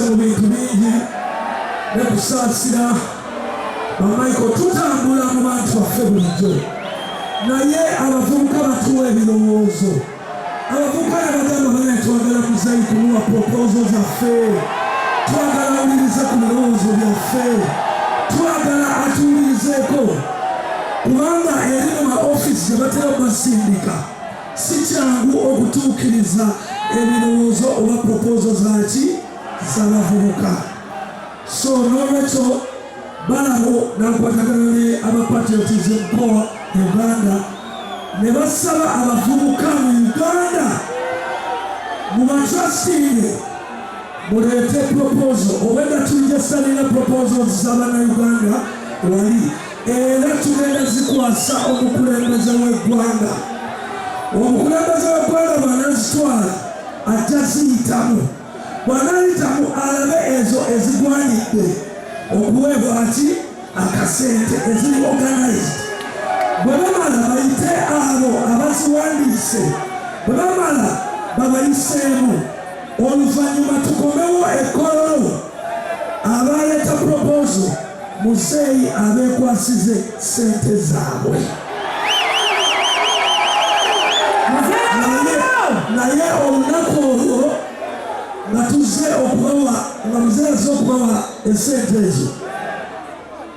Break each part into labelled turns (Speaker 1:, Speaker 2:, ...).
Speaker 1: mu bintu bingi ne kusaasira bamaiko tutambula mu bantu baffe bulijjo naye abavubuka batuwa ebirowoozo abavubuka ne bagamba banaye twagala muzeyi kumuwa propozo zaffe twagala awulirize ku birowoozo byaffe twagala atuwulirizeeko kubanga eri mu maofisi gye batera okusindika Si kyangu okutuukiriza ebirowoozo oba propoozo zaki z'abavubuka. So n'olwekyo balawo n'akwatagana ne aba Patriotism Corps Uganda ne basaba abavubuka mu Uganda mu batrastinge muleete propoozo obwedda tujja salira propoozo za bannayuganda wali era tugenda zikwasa omukulembeze w'eggwanga omukulembeze w'eggwanga bwanazitwala ajja ziyitamu bwanayitamu alabe ezo ezigwanidde okuweebwa ki akasente eziri organized bwe bamala bayite abo abaziwandiise bwe bamala babayiseemu oluvannyuma tukomewo ekkololo abaleeta proposo muzeeyi abeekwasize ssente zaabwe naye olunaku olwo nga tuzze okubawa nga muzeeyi azze okubawa esente ezo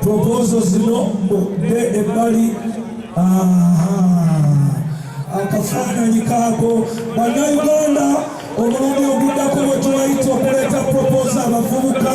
Speaker 1: Propozo zino mudde ebbali. Akafaananyi kaako bannayuganda omulundi oguddako bwe tubayita okuleeta propozo abavubuka